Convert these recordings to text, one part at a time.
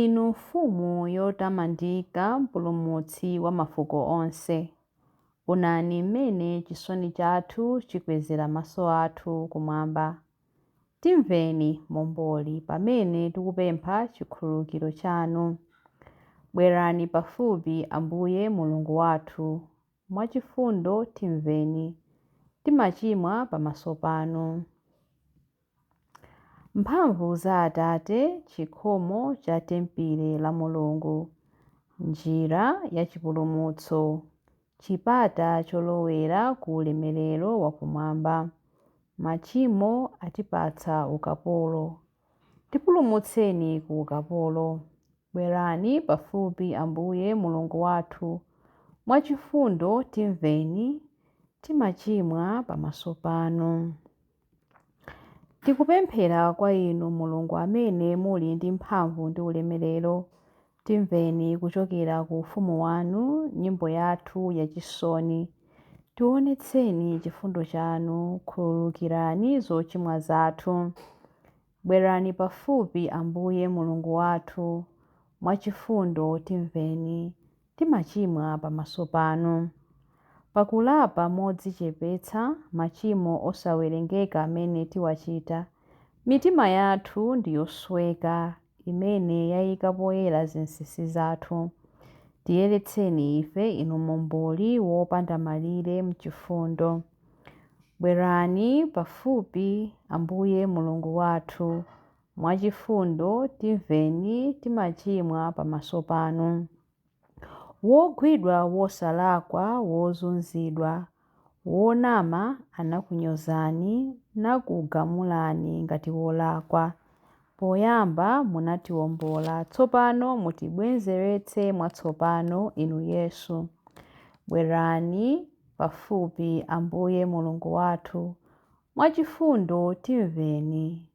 Inu Mfumu yotamandika, Mpulumutsi wa mafuko onse, onani mmene chisoni chathu chikwezera maso athu kumwamba. Timveni, Momboli, pamene tikupempha chikhululukiro chanu. Bwerani pafupi, Ambuye Mulungu wathu, mwachifundo timveni, timachimwa pamaso panu. Mphamvu za Atate, chikhomo cha tempile la Mulungu, njira ya chipulumutso, chipata cholowera ku ulemerero wa kumwamba, machimo atipatsa ukapolo. Tipulumutseni ku ukapolo. Bwerani pafupi, Ambuye Mulungu wathu, mwa chifundo timveni, timachimwa pamaso panu. Tikupemphera kwa inu Mulungu amene muli ndi mphamvu ndi ulemerero, timveni kuchokera ku ufumu wanu nyimbo yathu yachisoni. Tiwonetseni chifundo chanu, khululukirani zochimwa zathu. Bwerani pafupi, Ambuye Mulungu wathu, mwachifundo timveni. timachimwa pamaso panu. Pakulapa modzichepetsa machimo osawerengeka amene tiwachita, mitima yathu ndi yosweka imene yaika poyera zinsinsi zathu. Tiyeretseni ife, Inu Momboli wopanda malire m'chifundo. Bwerani pafupi, Ambuye Mulungu wathu. mwachifundo timveni timachimwa pamaso panu. Wogwidwa wosalakwa wozunzidwa wonama anakunyozani nakugamulani ngati wolakwa. Poyamba munatiombola tsopano mutibwenzeretse mwatsopano inu Yesu. Bwerani pafupi Ambuye Mulungu wathu mwachifundo timveni.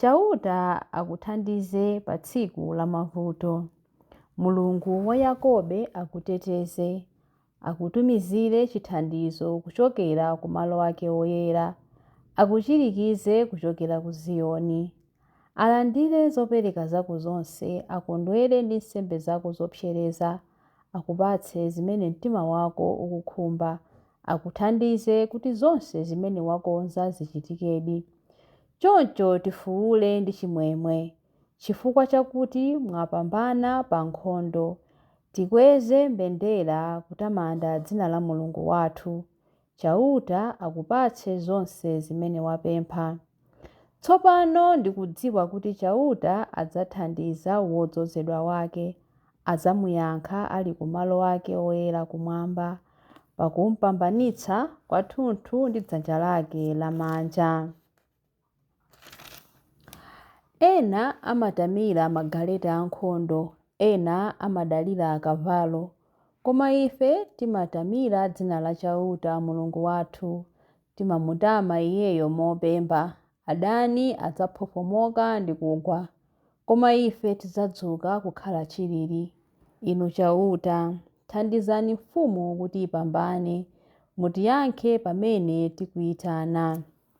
Chauta akuthandize pa tsiku la mavuto. Mulungu wa Yakobe akuteteze, akutumizire chithandizo kuchokera ku malo ake oyera, akuchirikize kuchokera ku Ziyoni. Alandire zopereka zako zonse, akondwere ndi nsembe zako zopsereza. akupatse zimene mtima wako ukukhumba, akuthandize kuti zonse zimene wakonza zichitikedi. Choncho tifuule ndi chimwemwe chifukwa chakuti mwapambana pa nkhondo. Tikweze mbendera kutamanda dzina la Mulungu wathu. Chauta akupatse zonse zimene wapempha. Tsopano ndikudziwa kuti Chauta adzathandiza wodzozedwa wake, adzamuyankha ali ku malo ake oyera kumwamba, pakumpambanitsa kwathunthu ndi dzanja lake lamanja. Ena amatamira magaleta ankhondo, ena amadalira akavalo, koma ife timatamira dzina la Chauta, Mulungu wathu. Timamutama Iyeyo mopemba. Adani adzafwofwomoka ndi kugwa, koma ife tidzadzuka kukhala chilili. Inu Chauta, thandizani mfumu kuti ipambane, mutiyankhe pamene tikuitana.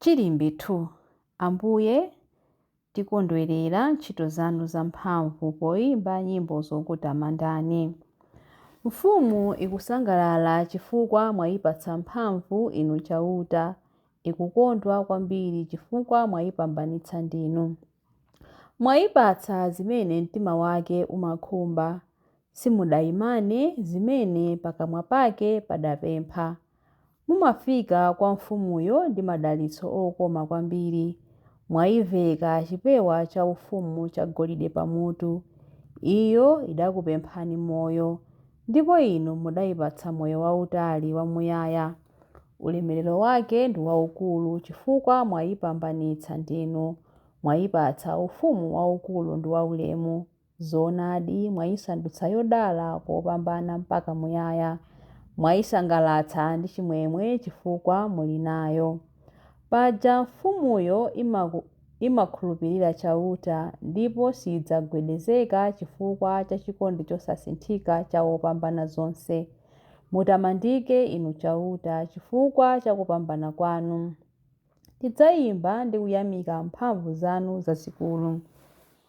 Chilimbi 2. Ambuye, tikondwerera ntchito zanu zamphamvu poimba nyimbo zokutamandani. Mfumu ikusangalala chifukwa mwaipatsa mphamvu, Inu Chauta, ikukondwa kwambiri chifukwa mwaipambanitsa ndinu. Mwaipatsa zimene mtima wake umakhumba, Simudaimane zimene pakamwa pake padapempha. Mumafika kwa mfumuyo ndi madalitso okoma kwambiri. Mwaiveka chipewa chaufumu chagolide pamutu. Iyo idakupemphani moyo, ndipo inu mudaipatsa moyo wautali wamuyaya. Ulemerero wake ndi waukulu chifukwa mwaipambanitsa ndinu, mwaipatsa ufumu waukulu ndi waulemu. Zoonadi, mwaisandutsa yodala kopambana mpaka muyaya, mwaisangalatsa ndi chimwemwe chifukwa muli nayo. Paja mfumuyo imakhulupirira Chauta, ndipo sidzagwedezeka chifukwa cha chikondi chosasinthika cha Wopambanazonse. Mutamandike, Inu Chauta, chifukwa cha kupambana kwanu. Tidzaimba ndi kuyamika mphamvu zanu zazikulu.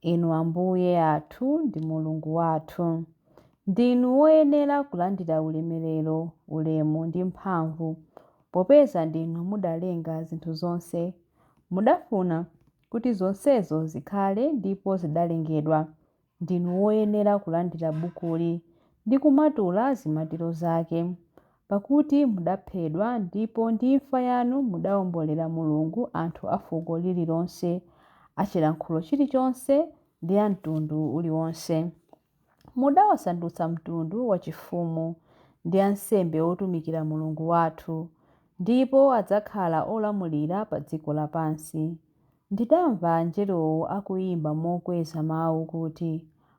Inu Ambuye athu ndi Mulungu wathu, ndinu woyenera kulandira ulemerero, ulemu ndi mphamvu, popeza ndinu mudalenga zinthu zonse. Mudafuna kuti zonsezo zikhale ndipo zidalengedwa. Ndinu woyenera kulandira bukuli ndi kumatula zimatiro zake. Pakuti mudaphedwa, ndipo ndi imfa yanu mudawombolera Mulungu anthu a fuko lililonse, a chilankhulo chilichonse, ndi a mtundu uliwonse. Mudawasandutsa mtundu wachifumu, ndi ansembe otumikira Mulungu wathu, ndipo adzakhala olamulira pa dziko lapansi. Ndidamva angelowo akuimba mokweza mau kuti,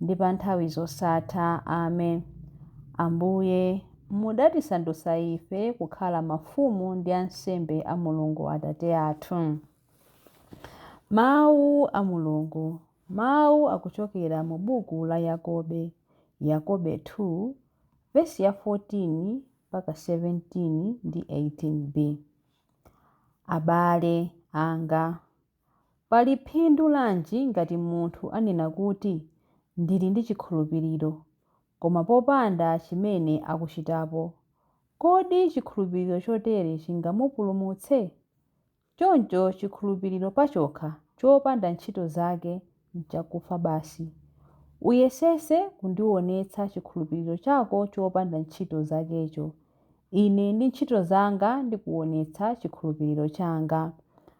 ndi pa nthawi zosatha. Amen. Ambuye, mudatisandutsa ife kukhala mafumu ndi ansembe a Mulungu Atate athu. Mawu a Mulungu. Mawu akuchokera mu buku la Yakobe, Yakobe 2, vesi ya 14 mpaka 17 ndi 18b. Abale anga, Pali phindu lanji ngati munthu anena kuti, Ndili ndi chikhulupiriro, koma popanda chimene akuchitapo? Kodi chikhulupiriro chotere chingamupulumutse? Choncho chikhulupiriro pachokha chopanda ntchito zake n'chakufa basi. Uyesetse kundionetsa chikhulupiriro chako chopanda ntchito zakecho. Ine ndi ntchito zanga ndikuonetsa chikhulupiriro changa.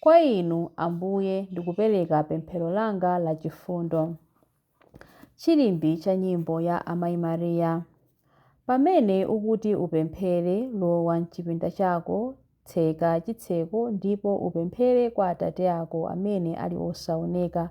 Kwa Inu, Ambuye, ndikupereka pemphero langa la chifundo. Chilimbi cha nyimbo ya Amayi Mariya. Pamene ukuti upemphere, lowa m'chipinda chako, tseka chitseko ndipo upemphere kwa Atate ako amene ali osaoneka.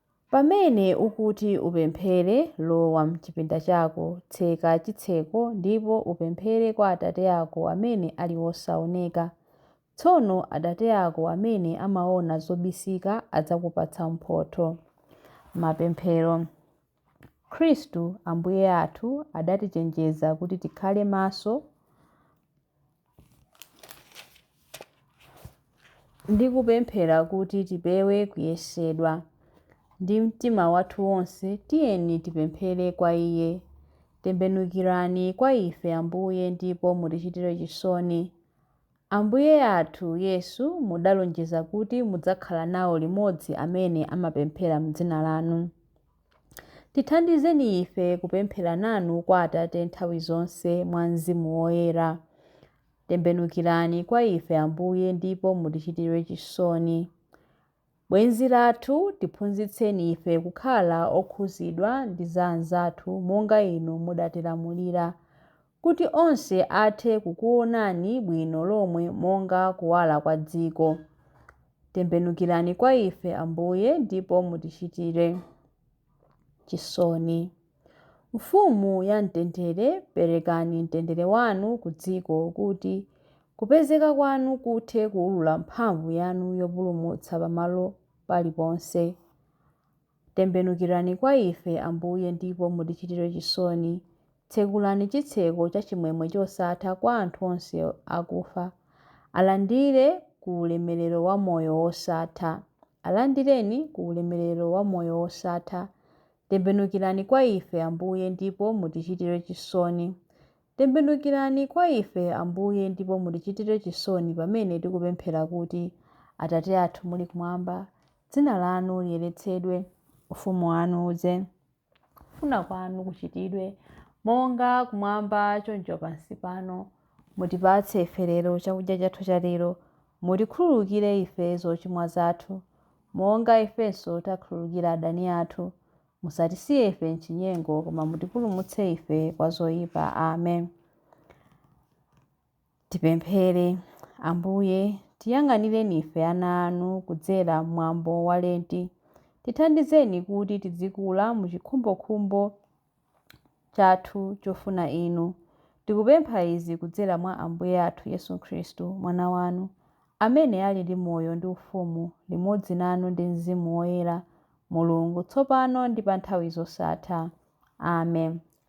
Pamene ukuti upemphere, lowa m'chipinda chako, tseka chitseko, ndipo upemphere kwa Atate ako amene ali wosaoneka. Tsono Atate ako amene amaona zobisika adzakupatsa mphotho. Mapemphero Khristu Ambuye athu adatichenjeza kuti tikhale maso ndi kupemphera kuti tipewe kuyesedwa. Ndi mtima wathu wonse tiyeni tipemphere kwa Iye. Tembenukirani kwa ife, Ambuye, ndipo mutichitire chisoni. Ambuye athu Yesu, mudalonjeza kuti mudzakhala nawo limodzi amene amapemphera m'dzina lanu. Tithandizeni ife kupemphera nanu kwa Atate nthawi zonse mwa Mzimu Woyera. Tembenukirani kwa ife, Ambuye, ndipo mutichitire chisoni. Bwenzi lathu, tiphunzitseni ife kukhala okhuzidwa ndi za anzathu monga inu mudatilamulira. kuti onse athe kukuonani bwino lomwe monga kuwala kwa dziko. Tembenukirani kwa ife, Ambuye, ndipo mutichitire. chisoni. Mfumu ya mtendere, perekani mtendere wanu ku dziko kuti kupezeka kwanu kuthe kuwulula mphamvu yanu yopulumutsa pamalo paliponse. Tembenukirani kwa ife, Ambuye, ndipo mutichitire chisoni. Tsekulani chitseko cha chimwemwe chosatha kwa anthu onse akufa, alandire ku ulemerero wa moyo wosatha. Alandireni ku ulemerero wa moyo wosatha. Tembenukirani kwa ife, Ambuye, ndipo mutichitire chisoni. Tembenukirani kwa ife, Ambuye, ndipo mutichitire chisoni pamene tikupemphera kuti, Atate athu muli kumwamba, dzina lanu liyeretsedwe. Ufumu wanu udze. Kufuna kwanu kuchitidwe, monga kumwamba choncho pansi pano. Mutipatse ife lero chakudya chathu cha lero. Mutikhululukire ife zochimwa zathu, monga ifenso takhululukira adani athu. Musatisiye ife m'chinyengo, koma mutipulumutse ife kwa zoyipa. Amen. Tipemphere. Ambuye, tiyang'anireni ife ana anu kudzera m'mwambo wa Lenti. Tithandizeni kuti tidzikula mu chikhumbokhumbo chathu chofuna inu. Tikupempha izi kudzera mwa Ambuye athu Yesu Khristu, Mwana wanu, amene ali ndi moyo ndi ufumu limodzi nanu ndi Mzimu Woyera, Mulungu, tsopano ndi pa nthawi zosatha. Amen.